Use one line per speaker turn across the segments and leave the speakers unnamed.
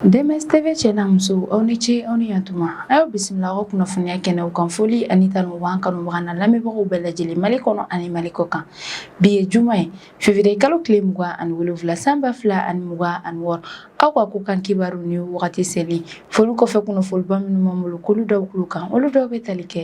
DMS TV cɛ na muso aw ni ce aw ni yan tuma a y'aw bisimila aw ka kunnafoniya kɛnɛw kan foli ani tanu b'an kanubaga n'an lamɛnbagaw bɛɛ lajɛlen mali kɔnɔ ani mali kɔ kan bi ye juma ye fevrier kalo tile mugan ani wolonwula san ba fila ani mugan ani wɔɔrɔ aw ka ko kan kibaru ni wagati seli foli kɔfɛ kunnafoniba minnu b'an bolo k'olu da aw tulo kan olu dɔw bɛ tali kɛ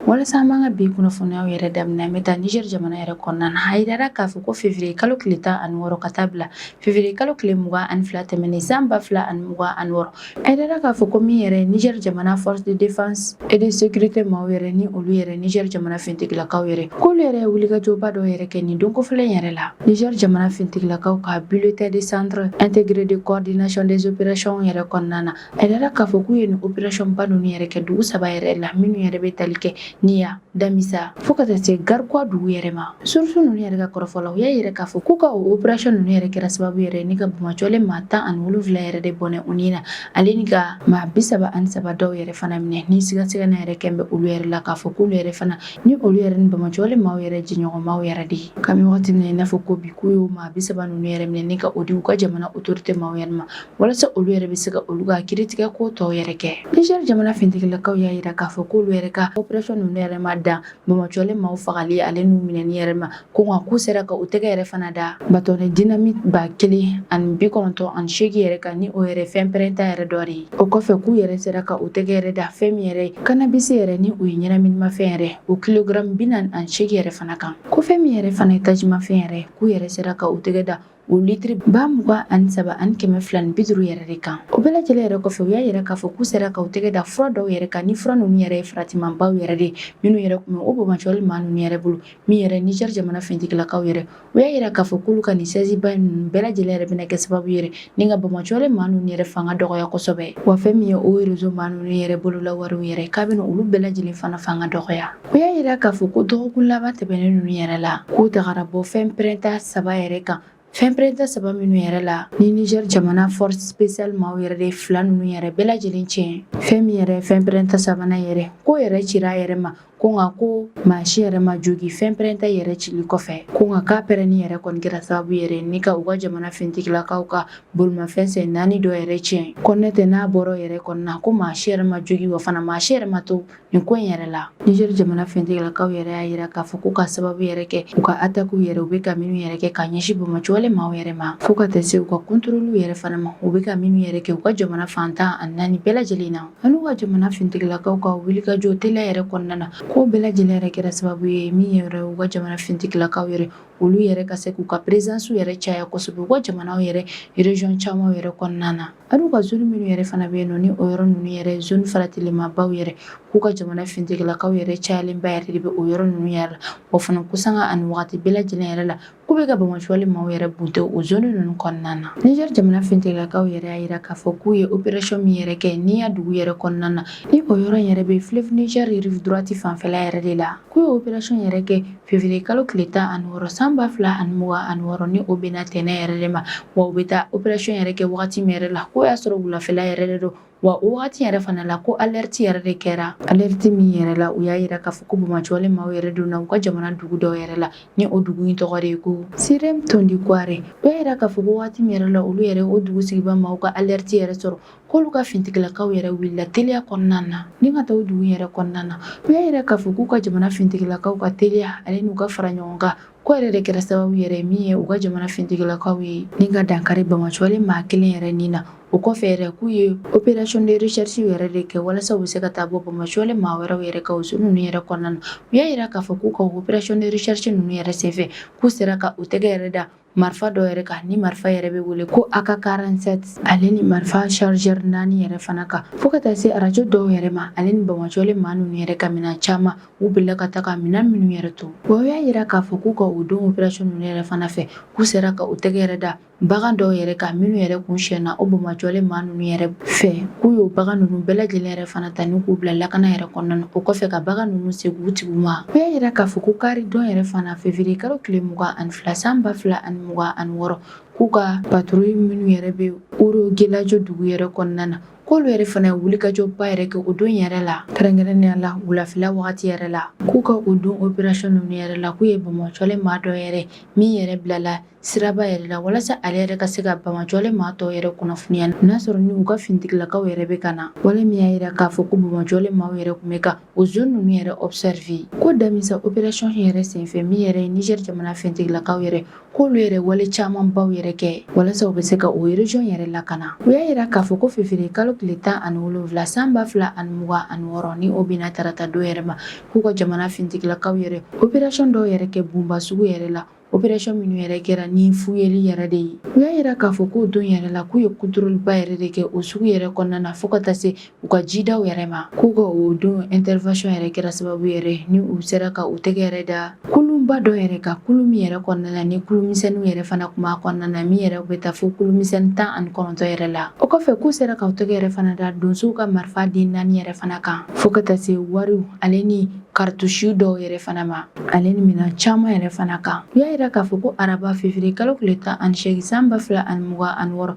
walasa an b'an ka bi kunnafoniyaw yɛrɛ daminɛ an bɛ taa niger jamana yɛrɛ kɔnɔna na a yirara k'a fɔ ko fevriye kalo tile tan ani wɔɔrɔ ka taa bila fevriye kalo tile mugan ani fila tɛmɛnen san ba fila ani mugan ani wɔɔrɔ A yirara k'a fɔ ko min yɛrɛ niger jamana force de défense et de sécurité maaw yɛrɛ ni olu yɛrɛ niger jamana fintigilakaw yɛrɛ k'olu yɛrɛ ye wulikajɔba dɔ yɛrɛ kɛ nin don kofɔlen yɛrɛ la niger jamana fintigilakaw ka bulletin de centre intégré de coordination des opérations yɛrɛ kɔnɔna na a yirara k'a fɔ k'u ye nin operationba ninnu yɛrɛ kɛ dugu saba yɛrɛ la minnu yɛrɛ bɛ tali kɛ niya damisa fo ka taa se garkuwa dugu yɛrɛ ma source ninnu yɛrɛ ka kɔrɔfɔla u y'a yira k'a fɔ k'u ka o operation ninnu yɛrɛ kɛra sababu yɛrɛ ni ka bamacɔlen maa tan ani wolonwula yɛrɛ de bɔnɛ u ni na ale ni ka maa bi saba ani saba dɔw yɛrɛ fana minɛ ni sigasigana yɛrɛ kɛlen bɛ olu yɛrɛ la k'a fɔ k'olu yɛrɛ fana ni olu yɛrɛ ni bamacɔlen maaw yɛrɛ jɛɲɔgɔnmaw yɛrɛ de ye kabini wagati min na i n'a fɔ ko bi k'u y'o maa bi saba ninnu yɛrɛ minɛ ni ka o di u ka jamana autorité maaw yɛrɛ ma walasa olu yɛrɛ bɛ se ka olu ka kiritigɛ ko tɔw yɛrɛ kɛ niger jamana fintigilakaw y'a yira k'a fɔ k'olu yɛrɛ ka operation ninnu yɛrɛ ma dan bamacɔlen maaw fagali ale n'u minɛni yɛrɛ ma ko nka k'u sera ka u tɛgɛ yɛrɛ fana da bâtonnet dynamite ba kelen ani bi kɔnɔntɔn ani seegin yɛrɛ kan ni o yɛrɛ fɛn pɛrɛnta yɛrɛ dɔ de ye o kɔfɛ k'u yɛrɛ sera ka u tɛgɛ yɛrɛ da fɛn min yɛrɛ ye cannabis yɛrɛ ni o ye ɲɛnaminimafɛn yɛrɛ o kilogram bi naani ani seegin yɛrɛ fana kan ko fɛn min yɛrɛ fana ye tajimafɛn yɛrɛ k'u yɛrɛ sera ka u tɛgɛ da o litiri ba mugan ani saba ani kɛmɛ fila ni bi duuru yɛrɛ de kan o bɛɛ lajɛlen yɛrɛ kɔfɛ u y'a yira k'a fɔ k'u sera ka u tɛgɛ da fura dɔw yɛrɛ kan ni fura ninnu yɛrɛ ye faratimanbaw yɛrɛ de minnu yɛrɛ tun bɛ o bamacɔlen maa ninnu yɛrɛ bolo min yɛrɛ Niger jamana fintigilakaw yɛrɛ u y'a yira k'a fɔ k'olu ka nin saisie ba ninnu bɛɛ lajɛlen yɛrɛ bɛna kɛ sababu yɛrɛ ni ka bamacɔlen maa ninnu yɛrɛ fanga dɔgɔya kosɛbɛ wa fɛn min ye o réseau maa ninnu yɛrɛ bolola wariw yɛrɛ k'a bɛna olu bɛɛ lajɛlen fana fanga dɔgɔya U y'a yira k'a fɔ ko dɔgɔkun laban tɛmɛnen ninnu yɛrɛ la k'u tagara bɔ fɛn pɛrɛnta saba yɛrɛ kan fɛn pɛrɛnta saba minnu yɛrɛ la ni niger jamana force spéciale maaw yɛrɛ de fila ninnu yɛrɛ bɛɛ lajɛlen tiɲɛ fɛn min yɛrɛ fɛn pɛrɛnta sabanan yɛrɛ k'o yɛrɛ cira a yɛrɛ ma ko nka ko maa si yɛrɛ ma joogi fɛn pɛrɛnta yɛrɛ cili kɔfɛ ko nka k'a pɛrɛnni yɛrɛ kɔni kɛra sababu yɛrɛ ni ka u ka jamana fintigilakaw ka bolimafɛn sen naani dɔ yɛrɛ tiɲɛ ko n'o tɛ n'a bɔra yɛrɛ kɔnɔna na ko maa si yɛrɛ ma joogi wa fana maa si yɛrɛ ma to Nin ko in yɛrɛ la Niger jamana fintigilakaw yɛrɛ y'a yira k'a fɔ k'u ka sababu yɛrɛ kɛ u ka attaques yɛrɛ u bɛ ka minnu yɛrɛ kɛ ka ɲɛsin bamajɔlen maaw yɛrɛ ma fo ka taa se u ka contrôles yɛrɛ fana ma u bɛ ka minnu yɛrɛ kɛ u ka jamana fan tan ani naani bɛɛ lajɛlen na an'u ka jamana fintigilakaw ka wulikajɔ teliya yɛrɛ kɔnɔna na k'o bɛɛ lajɛlen yɛrɛ kɛra sababu ye min yɛrɛ u ka jamana fintigilakaw yɛrɛ olu yɛrɛ ka se k'u ka présence yɛrɛ caya kosɛbɛ u ka jamana yɛrɛ région caman yɛrɛ kɔnɔna na ani u ka zone minnu yɛrɛ fana bɛ yen nɔ ni o yɔrɔ ninnu yɛrɛ zone faratilenmabaw yɛrɛ k'u ka jamana fintigilakaw yɛrɛ cayalenba yɛrɛ de bɛ o yɔrɔ ninnu yɛrɛ la wa fana ko sanga ani wagati bɛɛ lajɛlen yɛrɛ la k'u bɛ ka bamajɔlen maaw yɛrɛ bunte o zone ninnu kɔnɔna na niger jamana fintigilakaw yɛrɛ y'a yira k'a fɔ k'u ye operation min yɛrɛ kɛ Niya dugu yɛrɛ kɔnɔna na ni o yɔrɔ yɛrɛ bɛ fleuve niger rive droite fanfɛla yɛrɛ de la K'u ye operation yɛrɛ kɛ février kalo tile 16 san 2026 ni o bɛnna tɛnɛn yɛrɛ de ma, wa u bɛ taa operation yɛrɛ kɛ wagati min yɛrɛ la, k'o y'a sɔrɔ wulafɛla yɛrɛ de don, wa o wagati yɛrɛ fana la ko alerte yɛrɛ de kɛra, alerte min yɛrɛ la u y'a yira k'a fɔ ko bamajɔlen maaw yɛrɛ donna u ka jamana dugu dɔw yɛrɛ la, ni o dugu in tɔgɔ de ye ko Sirem Tondikouare, u y'a yira k'a fɔ ko wagati min yɛrɛ la olu yɛrɛ o dugu sigibaa maaw ka alerte yɛrɛ sɔrɔ, k'olu ka fintigilakaw yɛrɛ wulila teliya kɔnɔna na ni ka taa o dugu yɛrɛ kɔnɔna na u y'a yira k'a fɔ k'u ka jamana fintigilakaw ka teliya ale n'u ka fara ɲɔgɔn kan k'o yɛrɛ de kɛra sababu yɛrɛ min ye u ka jamana fintigilakaw ye ni ka dankari bamajɔlen maa kelen yɛrɛ ni na o kɔfɛ yɛrɛ k'u ye operation de recherche yɛrɛ de kɛ walasa u bɛ se ka taa bɔ bamajɔlen maa wɛrɛw yɛrɛ kan o zone ninnu yɛrɛ kɔnɔna na u y'a yira k'a fɔ k'u ka operation de recherche ninnu yɛrɛ senfɛ k'u sera ka u tɛgɛ yɛrɛ da marifa dɔ yɛrɛ kan ni marifa yɛrɛ bɛ wele ko AK47 ale ni marifa chargeur naani yɛrɛ fana kan fo ka taa se arajo dɔw yɛrɛ ma ale ni bamajɔlen maa ninnu yɛrɛ ka minɛn caman u bolila ka taa ka minɛn minnu yɛrɛ to wa u y'a yira k'a fɔ k'u ka o don operation ninnu yɛrɛ fana fɛ k'u sera ka u tɛgɛ yɛrɛ da bagan dɔw yɛrɛ kan minnu yɛrɛ tun sonyana o bamajɔlen maa ninnu yɛrɛ fɛ k'u y'o bagan ninnu bɛɛ lajɛlen yɛrɛ fana ta ni k'u bila lakana yɛrɛ kɔnɔna na o kɔfɛ ka bagan ninnu segin u tigiw ma u y'a yira k'a fɔ ko kari don yɛrɛ fana fevrier kalo tile mugan ani fila san ba fila ani mugan ani wɔɔrɔ k'u ka patrouille minnu yɛrɛ bɛ Oro Gelajo dugu yɛrɛ kɔnɔna na k'olu yɛrɛ fana ye wulikajɔba yɛrɛ kɛ o don yɛrɛ la kɛrɛnkɛrɛnnenya la wulafɛla wagati yɛrɛ la k'u ka o don operation ninnu yɛrɛ la k'u ye Bamajɔlen maa dɔ yɛrɛ min yɛrɛ bilala siraba yɛrɛ la walasa ale yɛrɛ ka se ka Bamajɔlen maa tɔw yɛrɛ kunnafoniya n'a sɔrɔ ni u ka finitigilakaw yɛrɛ bɛ ka na wale min y'a yira k'a fɔ ko Bamajɔlen maaw yɛrɛ tun bɛ ka o zone ninnu yɛrɛ observer ko Damissa operation yɛrɛ senfɛ min yɛrɛ ye Niger jamana fintigilakaw yɛrɛ k'olu yɛrɛ wale camanbaw yɛrɛ kɛ walasa u bɛ se ka o region yɛrɛ lakana u y'a yira k'a fɔ ko fevrier kalo tile tan ani wolonwula san ba fila ani mugan ani wɔɔrɔ ni o bɛnna tarata don yɛrɛ ma k'u ka jamana fintigilakaw yɛrɛ operation dɔw yɛrɛ kɛ Boumba sugu yɛrɛ la opération minnu yɛrɛ kɛra ni fuyeli yɛrɛ de ye u y'a yira k'a fɔ k'o don yɛrɛ la k'u ye contrôle ba yɛrɛ de kɛ o sugu yɛrɛ kɔnɔna na fo ka taa se u ka jidaw yɛrɛ ma k'u ka o don intervention yɛrɛ kɛra sababu yɛrɛ ni u sera ka u tɛgɛ yɛrɛ da kulunba dɔ yɛrɛ kan kulun min yɛrɛ kɔnɔna na ni kulumisɛnninw yɛrɛ fana tun b'a kɔnɔna na min yɛrɛ bɛ taa fo kulumisɛnnin tan ani kɔnɔntɔn yɛrɛ la o kɔfɛ k'u sera ka u tɛgɛ yɛrɛ fana da donsow ka marifa den naani yɛrɛ fana kan fo ka taa se wariw ale ni karitusi dɔw yɛrɛ fana ma ale ni minɛn caman yɛrɛ fana kan u y'a yira k'a fɔ ko araba fevriye kalo tile tan ani seegin san ba fila ani mugan ani wɔɔrɔ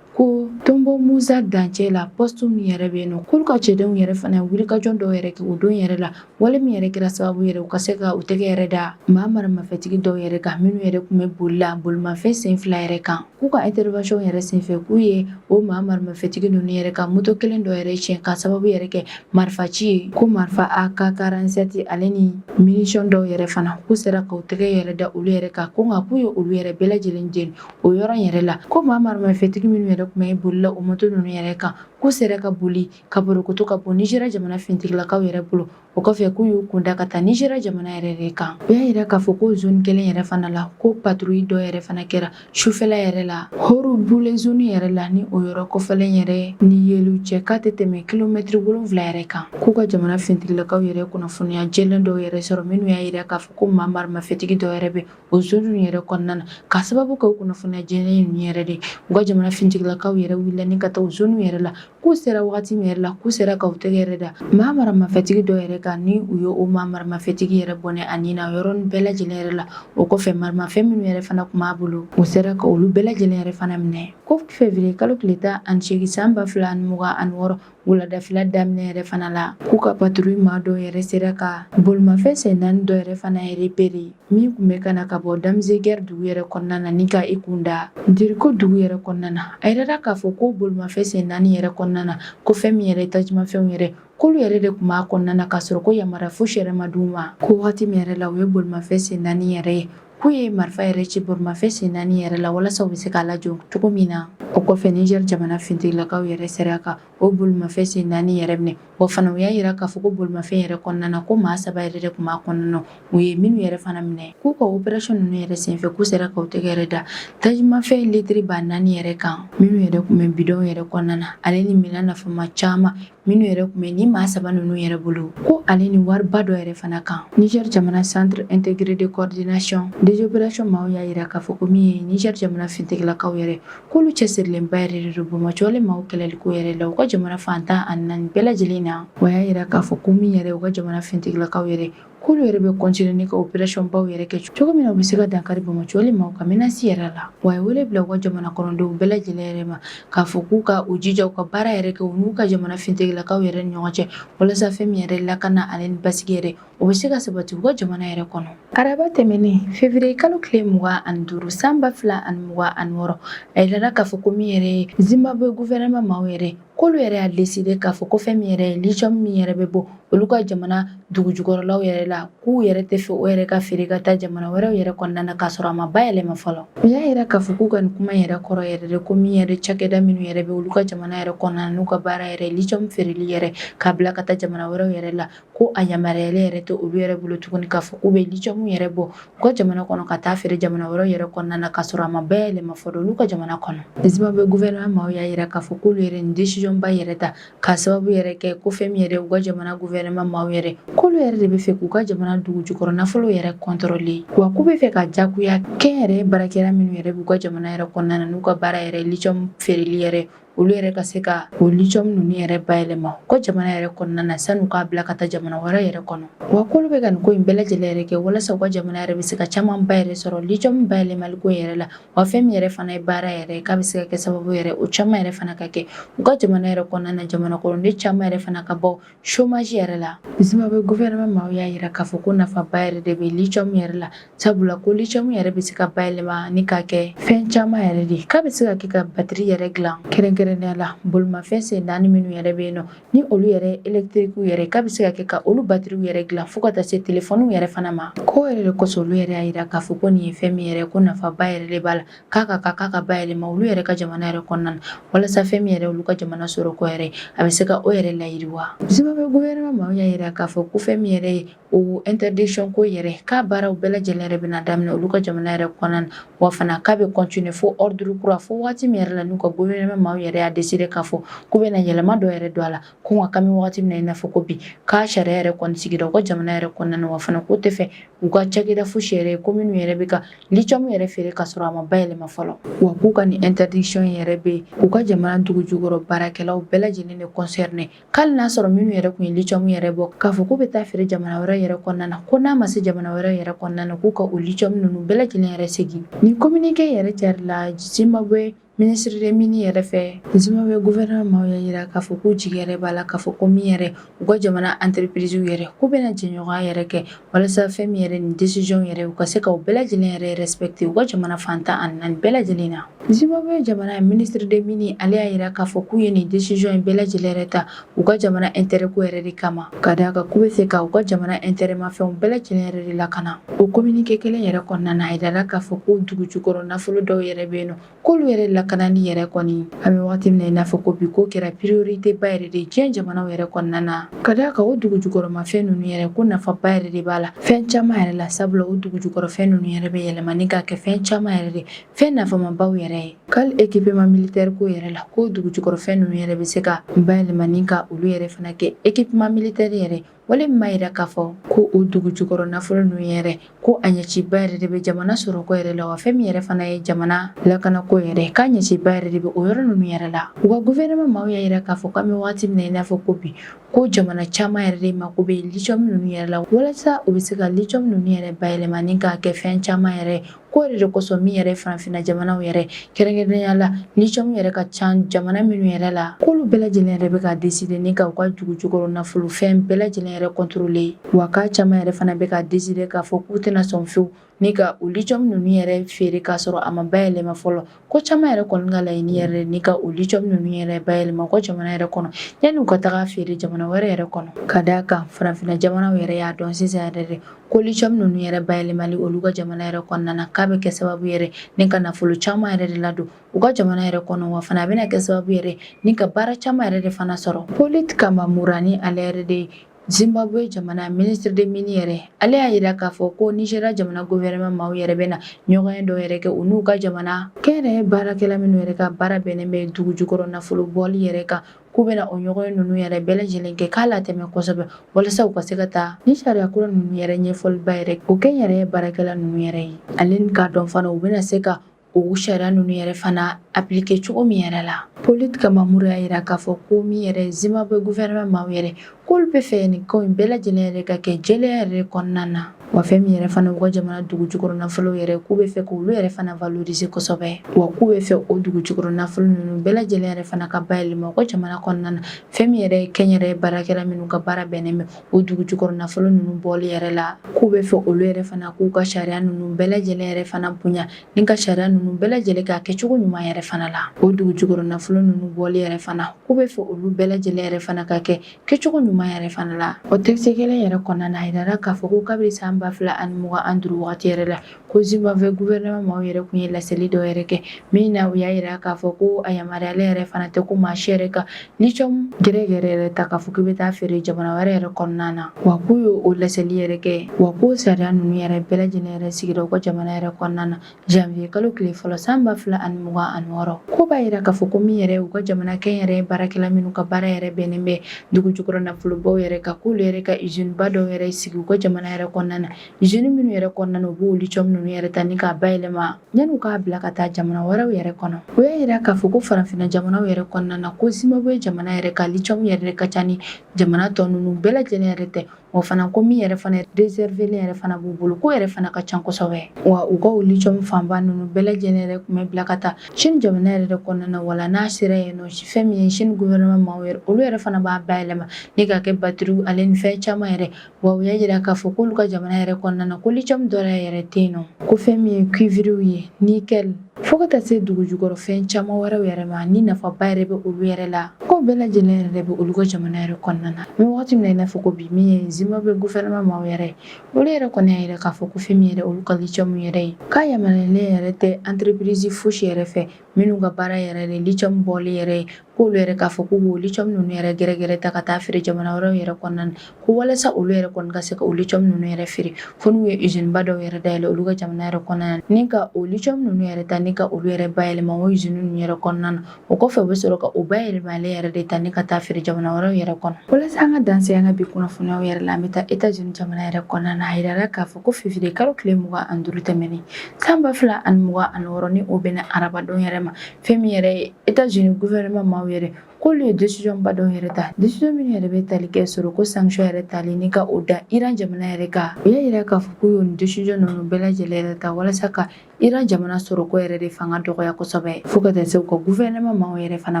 ko tonbo musa dancɛ la poste min yɛrɛ bɛ yen nɔ k'olu ka cɛdenw yɛrɛ fana wulikajɔ dɔw yɛrɛ kɛ o don yɛrɛ la wale min yɛrɛ kɛra sababu yɛrɛ u ka se ka u tɛgɛ yɛrɛ da maa maramafɛtigi dɔw yɛrɛ kan minnu yɛrɛ tun bɛ boli la bolimafɛn sen fila yɛrɛ kan K'u ka intervention yɛrɛ senfɛ k'u ye o maa maramafɛntigi ninnu yɛrɛ ka moto kelen dɔ yɛrɛ tiɲɛ k'a sababu yɛrɛ kɛ marifa ci ye ko marifa AK 47 ale ni munition dɔw yɛrɛ fana k'u sera k'u tɛgɛ yɛrɛ da olu yɛrɛ kan ko nka k'u ye olu yɛrɛ bɛɛ lajɛlen jeni o yɔrɔ in yɛrɛ la ko maa maramafɛntigi minnu yɛrɛ tun bɛ boli la o moto ninnu yɛrɛ kan k'u sera ka boli ka borokoto ka bɔ Niger jamana finitigilakaw yɛrɛ bolo O kɔfɛ k'u y'u kunda ka taa Nizeriya jamana yɛrɛ de kan. U y'a yira k'a fɔ k'o zone kelen yɛrɛ fana la, ko patrouille dɔ yɛrɛ fana kɛra sufɛla yɛrɛ la, Horo Bule zone yɛrɛ la, ni o yɔrɔ kofɔlen yɛrɛ ni Yelu cɛ k'a tɛ tɛmɛ kilomɛtiri wolonwula yɛrɛ kan. K'u ka jamana finitigilakaw yɛrɛ ye kunnafoniya jɛlen dɔw yɛrɛ sɔrɔ, minnu y'a yira k'a fɔ ko maa maramafɛntigi dɔ yɛrɛ bɛ o zone ninnu yɛrɛ kɔnɔna na, k'a sababu kɛ o kunnafoniya jɛlen ninnu yɛrɛ de ye. U ka jamana finitigilakaw yɛrɛ wulila ni ka taa o zone yɛrɛ la. k'u sera wagati min yɛrɛ la k'u sera ka u tɛgɛ yɛrɛ da maa maramafɛtigi dɔ yɛrɛ kan ni u ye o maa maramafɛtigi yɛrɛ bɔnɛ a nin na yɔrɔnin bɛɛ lajɛlen yɛrɛ la o kɔfɛ maramafɛn minnu yɛrɛ fana tun b'a bolo u sera ka olu bɛɛ lajɛlen yɛrɛ fana minɛ ko fevriye kalo tile tan ani seegin san ba fila ani mugan ani wɔɔrɔ wuladafila daminɛ yɛrɛ fana la k'u ka patrouille maa dɔ yɛrɛ sera ka bolimafɛn sen naani dɔ yɛrɛ fana repérer min tun bɛ ka na ka bɔ Damziguer dugu yɛrɛ kɔnɔna na ni ka i kun da Diriko dugu yɛrɛ kɔnɔna na, a yirala k'a fɔ ko bolimafɛn sen naani yɛrɛ kɔnɔna na, ko fɛn min yɛrɛ ye tajimafɛnw yɛrɛ k'olu yɛrɛ de tun b'a kɔnɔna na, k'a sɔrɔ ko yamaruya fosi yɛrɛ ma d'u ma, ko wagati min yɛrɛ la u ye bolimafɛn sen naani yɛrɛ ye, k'u ye marifa yɛrɛ ci bolimafɛn sen naani yɛrɛ la walasa u bɛ se k'a lajɔ cogo min na. O kɔfɛ Niger jamana finitigilakaw yɛrɛ sera ka O bolimafɛn sen naani yɛrɛ minɛ wa fana u y'a yira k'a fɔ ko bolimafɛn yɛrɛ kɔnɔna na ko maa saba yɛrɛ de tun b'a kɔnɔna na u ye minnu yɛrɛ fana minɛ k'u ka opération ninnu yɛrɛ senfɛ k'u sera ka u tɛgɛ yɛrɛ da tajimafɛn litiri ba naani yɛrɛ kan minnu yɛrɛ tun bɛ bidɔn yɛrɛ kɔnɔna na ale ni minɛn nafama caman minnu yɛrɛ tun bɛ ni maa saba ninnu yɛrɛ bolo ko ale ni wariba dɔ yɛrɛ fana kan Niger jamana centre intégré de coordination des opérations maaw y'a yira k'a fɔ ko min ye Niger jamana finitigilakaw yɛrɛ K'olu cɛsirilenba yɛrɛ de don Bamakɔ ale maaw kɛlɛli ko yɛrɛ la u ka jamana fan tan ani naani bɛɛ lajɛlen na wa a y'a yira k'a fɔ ko min yɛrɛ u ka jamana finitigilakaw yɛrɛ k'olu yɛrɛ bɛ continuer ni ka opération baw yɛrɛ kɛ cogo min na u bɛ se ka dankari Bamakɔ ale maaw ka menace yɛrɛ la wa a ye wele bila u ka jamana kɔnɔdenw bɛɛ lajɛlen yɛrɛ ma k'a fɔ k'u ka u jija u ka baara yɛrɛ kɛ u n'u ka jamana finitigilakaw yɛrɛ ni ɲɔgɔn cɛ walasa fɛn min yɛrɛ lakana ani basigi yɛrɛ O bɛ se ka sabati u ka jamana yɛrɛ kɔnɔ araba tɛmɛnen février kalo tile mugan ani duuru san ba fila ani mugan ani wɔɔrɔ a yirala k'a fɔ ko min yɛrɛ ye Zimbabwe gouvernement maaw yɛrɛ k'olu yɛrɛ y'a décider k'a fɔ ko fɛn min yɛrɛ lithium min yɛrɛ bɛ bɔ olu ka jamana dugu jukɔrɔlaw yɛrɛ la k'u yɛrɛ tɛ fɛ o yɛrɛ ka feere ka taa jamana wɛrɛw yɛrɛ kɔnɔna na k'a sɔrɔ a ma bayɛlɛma fɔlɔ u y'a yira k'a fɔ k'u ka nin kuma yɛrɛ kɔrɔ yɛrɛ de ko min yɛrɛ cakɛda minnu yɛrɛ bɛ olu ka jamana yɛrɛ kɔnɔna n'u ka baara yɛrɛ lithium feereli yɛrɛ k'a bila ka taa jamana wɛrɛw yɛrɛ la ko a yamaruyalen yɛrɛ tɛ olu yɛrɛ bolo tuguni k'a fɔ k'u bɛ lithium yɛrɛ bɔ u ka jamana kɔnɔ ka taa feere jamana wɛrɛ yɛrɛ kɔnɔna na k'a sɔrɔ a ma bayɛlɛma fɔlɔ olu ka jamana kɔnɔ Zimbabwe gouvernement maaw y'a yira k'a fɔ k'olu yɛrɛ nin décision ba yɛrɛ ta k'a sababu yɛrɛ kɛ ko fɛn min yɛrɛ u ka jamana gouvernement maaw yɛrɛ k'olu yɛrɛ de bɛ fɛ k'u ka jamana dugu jukɔrɔ nafolo yɛrɛ contrôler wa k'u bɛ fɛ ka jagoya kɛnyɛrɛye baarakɛla minnu yɛrɛ b'u ka jamana yɛrɛ kɔnɔna na n'u ka baara yɛrɛ lithium feereli yɛrɛ olu yɛrɛ ka se ka o lithium ninnu yɛrɛ bayɛlɛma u ka jamana yɛrɛ kɔnɔna na san'u k'a bila ka taa jamana wɛrɛ yɛrɛ kɔnɔ wa k'olu bɛ ka nin ko in bɛɛ lajɛlen yɛrɛ kɛ walasa u ka jamana yɛrɛ bɛ se ka caman ba yɛrɛ sɔrɔ lithium bayɛlɛmali ko yɛrɛ la wa fɛn min yɛrɛ fana ye baara yɛrɛ k'a bɛ se ka kɛ sababu yɛrɛ o caman yɛrɛ fana ka kɛ u ka jamana yɛrɛ kɔnɔna na jamana kɔnɔden caman yɛrɛ fana ka bɔ chômage yɛrɛ la Zimbabwe gouvernement maaw y'a yira k'a fɔ ko nafaba yɛrɛ de bɛ lithium yɛrɛ la sabula ko lithium yɛrɛ bɛ se ka bayɛlɛma ni k'a kɛ fɛn caman yɛrɛ de k'a bɛ se ka kɛ ka batiri yɛrɛ dilan kɛrɛnkɛrɛnnenya la bolimafɛn sen naani minnu yɛrɛ bɛ yen nɔ ni olu yɛrɛ elektrikiw yɛrɛ k'a bɛ se ka kɛ ka olu batiriw yɛrɛ dilan fo ka taa se telefɔniw yɛrɛ fana ma k'o yɛrɛ de kosɔn olu yɛrɛ y'a yira k'a fɔ ko nin ye fɛn min yɛrɛ ko nafaba yɛrɛ de b'a la k'a ka kan k'a ka bayɛlɛma olu yɛrɛ ka jamana yɛrɛ kɔnɔna na walasa fɛn min yɛrɛ olu ka jamana sɔrɔ ko yɛrɛ a bɛ se ka o yɛrɛ layiriwa Zimbabwe gouvernement maaw y'a yira k'a fɔ ko fɛn min yɛrɛ ye o interdiction ko yɛrɛ k'a baaraw bɛɛ lajɛlen yɛrɛ bɛna daminɛ olu ka jamana yɛrɛ kɔnɔna na wa fana k'a bɛ continuer fo ordre kura fo waati min yɛrɛ la n'u ka gouvernement maaw yɛrɛ y'a décider k'a fɔ k'u bɛna yɛlɛma dɔ yɛrɛ don a la Ko nka k'an bɛ waati min na i n'a fɔ ko bi k'a sariya yɛrɛ kɔni sigira u ka jamana yɛrɛ kɔnɔna na wa fana k'u tɛ fɛ u ka cakɛda fosi ye ko minnu yɛrɛ bɛ ka lithium yɛrɛ feere k'a sɔrɔ a ma bayɛlɛma fɔlɔ wa k'u ka nin interdiction yɛrɛ bɛ u ka jamana dugu jukɔrɔ baarakɛlaw bɛɛ lajɛlen de concerner k'ali n'a y'a sɔrɔ minnu yɛrɛ tun ye lithium yɛrɛ bɔ k'a fɔ k'u bɛ taa feere jamana wɛrɛ yɛrɛ kɔnɔna na ko n'a ma se jamana wɛrɛ yɛrɛ kɔnɔna na k'u ka o lithium ninnu bɛɛ lajɛlen yɛrɛ segin nin communiqué yɛrɛ carila Zimbabwe Ministre des mines yɛrɛ fɛ Zimbabwe gouvernement maaw y'a yira k'a fɔ k'u jigi yɛrɛ b'a la k'a fɔ ko min yɛrɛ u ka jamana entreprise yɛrɛ k'u bɛna jɛɲɔgɔnya yɛrɛ kɛ walasa fɛn min yɛrɛ nin décision yɛrɛ u ka se ka o bɛɛ lajɛlen yɛrɛ respecter u ka jamana fan tan ani naani bɛɛ lajɛlen na Zimbabwe jamana ministre des mines ale y'a yira k'a fɔ k'u ye nin décision in bɛɛ lajɛlen yɛrɛ ta u ka jamana intérêt ko yɛrɛ de kama ka d'a kan k'u bɛ fɛ ka u ka jamana intérêt mafɛnw bɛɛ lajɛlen yɛrɛ de lakana o communiqué kelen yɛrɛ kɔnɔna na a yirala k'a fɔ ko dugu jukɔrɔ nafolo dɔw yɛrɛ bɛ yen nɔ k'olu yɛrɛ lakanani yɛrɛ kɔni an bɛ wagati min na i n'a fɔ ko bi k'o kɛra priorité ba yɛrɛ de diɲɛ jamanaw yɛrɛ kɔnɔna na ka d'a kan o dugu jukɔrɔmafɛn ninnu yɛrɛ ko nafaba yɛrɛ de b'a la fɛn caman yɛrɛ la sabula o dugu jukɔrɔfɛn ninnu yɛrɛ bɛ yɛlɛma ni ka kɛ fɛn caman yɛrɛ de fɛn nafamabaw yɛrɛ ye k'ali équipement militaire ko yɛrɛ la ko dugu jukɔrɔ fɛn ninnu yɛrɛ bɛ se ka bayɛlɛma ni ka olu yɛrɛ fana kɛ équipement militaire yɛrɛ wale min b'a yira k'a fɔ ko o dugu jukɔrɔ nafolo ninnu yɛrɛ ko a ɲɛciba yɛrɛ de bɛ jamana sɔrɔko yɛrɛ la wa fɛn min yɛrɛ fana ye jamana lakanako yɛrɛ k'a ɲɛciba yɛrɛ de bɛ o yɔrɔ ninnu yɛrɛ la u ka gouvernement maaw y'a yira k'a fɔ k'an bɛ wagati min na i n'a fɔ ko bi ko jamana caman yɛrɛ de mako bɛ lithium ninnu yɛrɛ la walasa u bɛ se ka lithium ninnu yɛrɛ bayɛlɛma ni k'a kɛ fɛn caman yɛrɛ ko yɛrɛ de kosɔn min yɛrɛ farafinna jamanaw yɛrɛ kɛrɛnkɛrɛnnenya la lithium yɛrɛ ka ca jamana minnu yɛrɛ la k'olu bɛɛ lajɛlen yɛrɛ bɛ ka décider ni ka u ka dugu jukɔrɔ nafolo fɛn bɛɛ lajɛlen yɛrɛ contrôler wa k'a caman yɛrɛ fana bɛ ka décider k'a fɔ k'u tɛna sɔn fewu ni ka u lithium ninnu yɛrɛ feere k'a sɔrɔ a ma bayɛlɛma fɔlɔ ko caman yɛrɛ kɔni ka laɲini yɛrɛ ni ka o lithium ninnu yɛrɛ bayɛlɛma u ka jamana yɛrɛ kɔnɔ yanni u ka taga feere jamana wɛrɛ yɛrɛ kɔnɔ ka d'a kan farafinna jamanaw yɛrɛ y'a dɔn sisan yɛrɛ de ko lithium ninnu yɛrɛ bayɛlɛmali olu ka jamana yɛrɛ kɔnɔna na k'a bɛ kɛ sababu yɛrɛ ni ka nafolo caman yɛrɛ de ladon u ka jamana yɛrɛ kɔnɔ wa fana a bɛna kɛ sababu yɛrɛ ni ka baara caman yɛrɛ de fana sɔrɔ Polite Kambamura ni ale yɛrɛ de ye Zimbabwe jamana ministre des mines yɛrɛ ale y'a yira k'a fɔ ko Nigeria jamana gouvernement maaw yɛrɛ bɛna ɲɔgɔnye dɔw yɛrɛ kɛ u n'u ka jamana kɛnyɛrɛye baarakɛla minnu yɛrɛ ka baara bɛnnen bɛ dugu jukɔrɔ nafolo bɔli yɛrɛ kan k'u bɛna o ɲɔgɔnye ninnu yɛrɛ bɛɛ lajɛlen kɛ k'a latɛmɛ kosɛbɛ walasa u ka se ka taa ni sariya kura ninnu yɛrɛ ɲɛfɔliba yɛrɛ o kɛnyɛrɛye baarakɛla ninnu yɛrɛ ye ale k'a dɔn fana u bɛna se ka o sariya ninnu yɛrɛ fana appliquer cogo min yɛrɛ la Polite Kambamura y'a yira k'a fɔ ko min yɛrɛ Zimbabwe gouvernement maaw yɛrɛ k'olu bɛ fɛ nin ko in bɛɛ lajɛlen yɛrɛ ka kɛ jɛlenya yɛrɛ kɔnɔna na wa fɛn min yɛrɛ fana u ka jamana dugu jukɔrɔ nafolo yɛrɛ k'u bɛ fɛ k'olu yɛrɛ fana valoriser kosɛbɛ wa k'u bɛ fɛ o dugu jukɔrɔ nafolo ninnu bɛɛ lajɛlen yɛrɛ fana ka bayɛlɛma u ka jamana kɔnɔna na fɛn min yɛrɛ ye kɛnyɛrɛye baarakɛla minnu ka baara bɛnnen bɛ o dugu jukɔrɔ nafolo ninnu bɔli yɛrɛ la k'u bɛ fɛ olu yɛrɛ fana k'u ka sariya ninnu bɛɛ lajɛlen yɛrɛ fana bonya ni ka sariya ninnu bɛɛ lajɛlen k'a kɛcogo ɲuman yɛrɛ fana la o dugu jukɔrɔ nafolo ninnu bɔli yɛrɛ fana k'u bɛ fɛ olu bɛɛ lajɛlen yɛrɛ fana ka kɛ kɛcogo ɲuman yɛrɛ fana la o texte kelen yɛrɛ kɔnɔna na a yirara k'a fɔ ko kabiri san ba fila ani mugan ani duuru wagati yɛrɛ la Ko Zimbabwe gouvernement maaw yɛrɛ tun ye laseli dɔ yɛrɛ kɛ min na u y'a jira k'a fɔ ko a yamaruyalen yɛrɛ fana tɛ ko maa si yɛrɛ ka lithium gɛrɛgɛrɛ yɛrɛ ta k'a fɔ k'i bɛ taa feere jamana wɛrɛ yɛrɛ kɔnɔna na wa k'u ye o laseli yɛrɛ kɛ wa k'o sariya ninnu yɛrɛ bɛɛ lajɛlen yɛrɛ sigira u ka jamana yɛrɛ kɔnɔna na janvier kalo tile fɔlɔ san ba fila ani mugan ani wɔɔrɔ k'o b'a jira k'a fɔ ko min yɛrɛ u ka jamana kɛnyɛrɛye baarakɛla minnu ka baara yɛrɛ bɛnnen bɛ dugu jukɔrɔ nafolobaw yɛrɛ kan k'olu yɛrɛ ka usine ba dɔw yɛrɛ sigi u ka jamana yɛrɛ kɔnɔna na z minnu yɛrɛ kɔnɔna na u b'o lithium ninnu yɛrɛ ta ni k'a bayɛlɛma yan'u k'a bila ka taa jamana wɛrɛw yɛrɛ kɔnɔ o y'a yira k'a fɔ ko farafinna jamanaw yɛrɛ kɔnɔna na ko Zimbabwe jamana yɛrɛ ka lithium yɛrɛ ka ca ni jamana tɔ ninnu bɛɛ lajɛlen yɛrɛ tɛ o fana ko min yɛrɛ fana réservelen yɛrɛ fana b'u bolo k'o yɛrɛ fana ka ca kosɛbɛ wa u ka o lithium fanba ninnu bɛɛ lajɛlen yɛrɛ tun bɛ bila ka taa Chine jamana yɛrɛ de kɔnɔna na wala n'a sera yen nɔ fɛn min ye Chine gouvernement maaw yɛrɛ olu yɛrɛ fana b'a bayɛlɛma ni k'a kɛ batiriw ale ni fɛn caman yɛrɛ wa u y'a jira k'a fɔ k'olu ka jamana yɛrɛ kɔnɔna na ko lithium dɔrɔn yɛrɛ tɛ yen nɔ ko fɛn min ye cuivrew ye nickel fo ka taa se dugu jukɔrɔ fɛn caman wɛrɛw yɛrɛ ma ni nafaba yɛrɛ bɛ olu yɛrɛ la k'o bɛɛ lajɛlen yɛrɛ de bɛ olu ka jamana yɛrɛ kɔnɔna na mais wagati min na i n'a fɔ ko bi min ye Zimbabwe gouvernement maaw yɛrɛ olu yɛrɛ kɔni y'a yira k'a fɔ ko fɛn min yɛrɛ olu ka lithium yɛrɛ ye k'a yamaruyalen yɛrɛ tɛ entreprise fosi yɛrɛ fɛ minnu ka baara yɛrɛ de lithium bɔli yɛrɛ ye k'olu yɛrɛ k'a fɔ k'u b'o lithium ninnu yɛrɛ gɛrɛgɛrɛ ta ka taa feere jamana wɛrɛw yɛrɛ kɔnɔna na ko walasa olu yɛrɛ kɔni ka se ka o lithium ninnu yɛrɛ feere fo n'u ye usine ba dɔw yɛrɛ dayɛlɛ olu ka jamana yɛrɛ kɔnɔna na ni ka o lithium ninnu yɛrɛ ta ni ka olu yɛrɛ bayɛlɛma o usine ninnu yɛrɛ kɔnɔna na o kɔfɛ u bɛ sɔrɔ ka o bayɛlɛmalen yɛrɛ de ta ni ka taa feere jamana wɛrɛw yɛrɛ kɔnɔ walasa an ka dan se an ka bi kunnafoniyaw yɛrɛ la an bɛ taa États-Unis jamana yɛrɛ kɔnɔna na a yirala k'a fɔ ko février kalo tile mugan ani duuru tɛmɛnen san ba fila ani mugan ani wɔɔrɔ ni o bɛnna arabadon yɛrɛ ma fɛn min yɛrɛ ye États-Unis gouvernement maaw yɛrɛ k'olu ye décision ba dɔw yɛrɛ ta décision minnu yɛrɛ bɛ tali kɛ sɔrɔko sanction yɛrɛ tali ni ka o da Iran jamana yɛrɛ kan u y'a jira k'a fɔ k'u y'o nin décision ninnu bɛɛ lajɛlen yɛrɛ ta walasa ka Iran jamana sɔrɔko yɛrɛ de fanga dɔgɔya kosɛbɛ fo ka taa se u ka gouvernement maaw yɛrɛ fana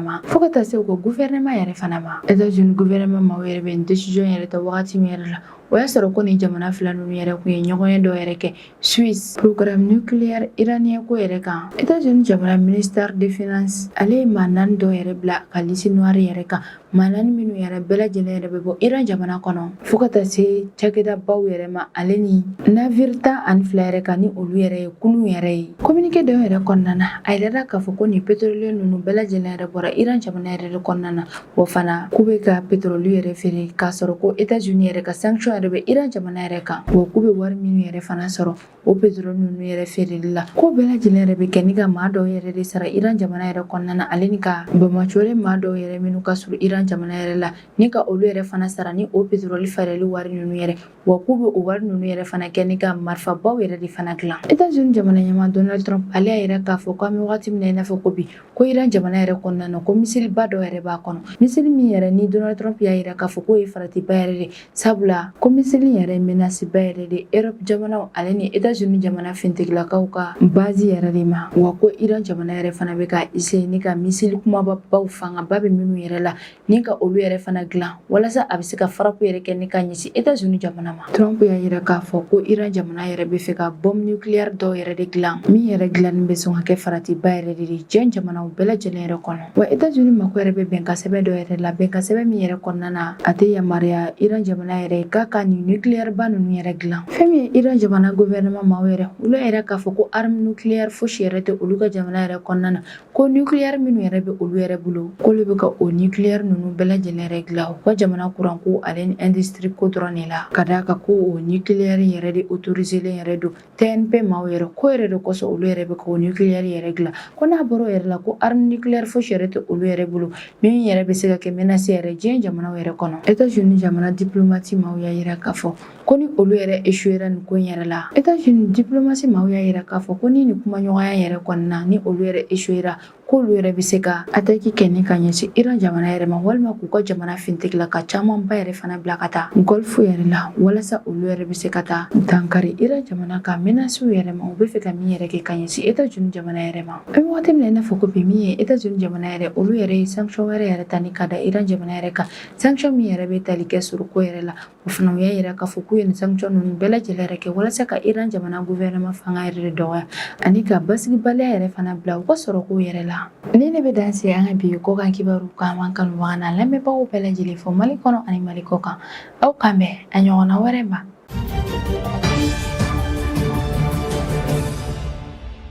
ma fo ka taa se u ka gouvernement yɛrɛ fana ma États-Unis gouvernement maaw yɛrɛ bɛ nin décision yɛrɛ ta wagati min yɛrɛ la o y'a sɔrɔ ko nin jamana fila ninnu yɛrɛ tun ye ɲɔgɔnye dɔ yɛrɛ kɛ Suisse programme nucléaire iranien ko yɛrɛ kan États-Unis jamana ministère des finances ale ye maa naani dɔ yɛrɛ bila ka liste noire yɛrɛ kan maa naani minnu yɛrɛ bɛɛ lajɛlen yɛrɛ bɛ bɔ Iran jamana kɔnɔ fo ka taa se cakɛdabaw yɛrɛ ma ale ni navire tan ani fila yɛrɛ kan ni olu yɛrɛ ye kurun yɛrɛ ye communiqué dɔ yɛrɛ kɔnɔna na a yirala k'a fɔ ko nin pétrolier ninnu bɛɛ lajɛlen yɛrɛ bɔra Iran jamana yɛrɛ de kɔnɔna na Wa fana k'u bɛ ka pétrole yɛrɛ feere k'a sɔrɔ ko États-Unis yɛrɛ ka sanction yɛrɛ bɛ Iran jamana yɛrɛ kan wa k'u bɛ wari minnu yɛrɛ fana sɔrɔ o pétrole ninnu yɛrɛ feereli la k'o bɛɛ lajɛlen yɛrɛ bɛ kɛ ni ka maa dɔw yɛrɛ de sara Iran jamana yɛrɛ kɔnɔna na ale ni ka bamacolen maa dɔw yɛrɛ minnu ka surun Iran jamana yɛrɛ la ni ka olu yɛrɛ fana sara ni o pétrole feereli wari ninnu yɛrɛ wa k'u bɛ o wari ninnu yɛrɛ fana kɛ ni ka marifabaw yɛrɛ de fana dilan Etats-Unis jamana ɲɛmaa Donald Trump ale y'a yira k'a fɔ k'an bɛ wagati min na i n'a fɔ ko bi ko Iran jamana yɛrɛ kɔnɔna na ko misiliba dɔ yɛrɛ b'a kɔnɔ misili min yɛrɛ ni Donald Trump y'a yira k'a fɔ k'o ye faratiba yɛrɛ de sabula ko misili yɛrɛ ye menasiba yɛrɛ de Europe jamanaw ale ni Etats-Unis jamana fintigilakaw ka bazi yɛrɛ de ma wa ko Iran jamana yɛrɛ fana bɛ ka essayer ni ka misili kunbabaw fangaba bɛ minnu yɛrɛ la Ni ka olu yɛrɛ fana dilan walasa a bɛ se ka farapu yɛrɛ kɛ ni ka ɲɛsin Etats-Unis jamana ma Trump y'a yira k'a fɔ ko Iran jamana yɛrɛ bɛ fɛ ka bombe nucléaire dɔw yɛrɛ de dilan min yɛrɛ dilannen bɛ sɔn ka kɛ faratiba yɛrɛ de ye diɲɛ jamanaw bɛɛ lajɛlen yɛrɛ kɔnɔ wa Etats-Unis mako yɛrɛ bɛ bɛnkansɛbɛn dɔ yɛrɛ la bɛnkansɛbɛn min yɛrɛ kɔnɔna na a tɛ yamaruya Iran jamana yɛrɛ k'a ka nin nucléaire ba ninnu yɛrɛ dilan fɛn min ye Iran jamana gouvernement maaw yɛrɛ olu y'a yira k'a fɔ ko arme nucléaire fosi yɛrɛ tɛ olu ka jamana yɛrɛ kɔnɔna na Ko nucléaire minnu yɛrɛ bɛ olu yɛrɛ bolo, k'olu bɛ ka o nucléaire ninnu bɛɛ lajɛlen yɛrɛ dilan u ka jamana kuran ko ale ni industrie ko dɔrɔn de la, ka d'a kan ko o nucléaire in yɛrɛ de autoriselen yɛrɛ don TNP maaw yɛrɛ, k'o yɛrɛ de kosɔn olu yɛrɛ bɛ ka o nucléaire yɛrɛ dilan, ko n'a bɔra o yɛrɛ la, ko arme nucléaire fosi yɛrɛ tɛ olu yɛrɛ bolo min yɛrɛ bɛ se ka kɛ menace yɛrɛ diɲɛ jamanaw yɛrɛ kɔnɔ. Etats-Unis jamana diplomate maaw y'a yira k'a fɔ ko ni olu yɛrɛ esuyera nin ko in yɛrɛ la etats-unis diplomasi maaw y'a yira k'a fɔ ko ni nin kumaɲɔgɔnya yɛrɛ kɔnɔna ni olu yɛrɛ esuyera k'olu yɛrɛ bɛ se ka ataki kɛ ni ka ɲɛsin iran jamana yɛrɛ ma walima k'u ka jamana fintigilaka camanba yɛrɛ fana bila ka taa gɔlfu yɛrɛ la walasa olu yɛrɛ bɛ se ka taa dankari iran jamana ka menasiw yɛrɛ ma u bɛ fɛ ka min yɛrɛ kɛ ka ɲɛsin etats-unis jamana yɛrɛ ma an bɛ wagati min na i n'a fɔ ko bi min ye etats-unis jamana yɛrɛ olu yɛrɛ ye sanction wɛrɛ yɛrɛ ta ni ka da iran jamana yɛrɛ kan sanction min yɛrɛ bɛ tali kɛ suruko yɛrɛ la O fana u y'a yira k'a fɔ k'u ye nin sanction ninnu bɛɛ lajɛlen yɛrɛ kɛ walasa ka Iran jamana gouvernement fanga yɛrɛ de dɔgɔya ani ka basigibaliya yɛrɛ fana bila u ka sɔrɔkow yɛrɛ la. Nin de bɛ dan sigi an ka bi kɔkan kibaru kan an b'an kanubaga n'an lamɛnbagaw bɛɛ lajɛlen fo Mali kɔnɔ ani Mali kɔkan. Aw k'an bɛn a ɲɔgɔnna wɛrɛ ma.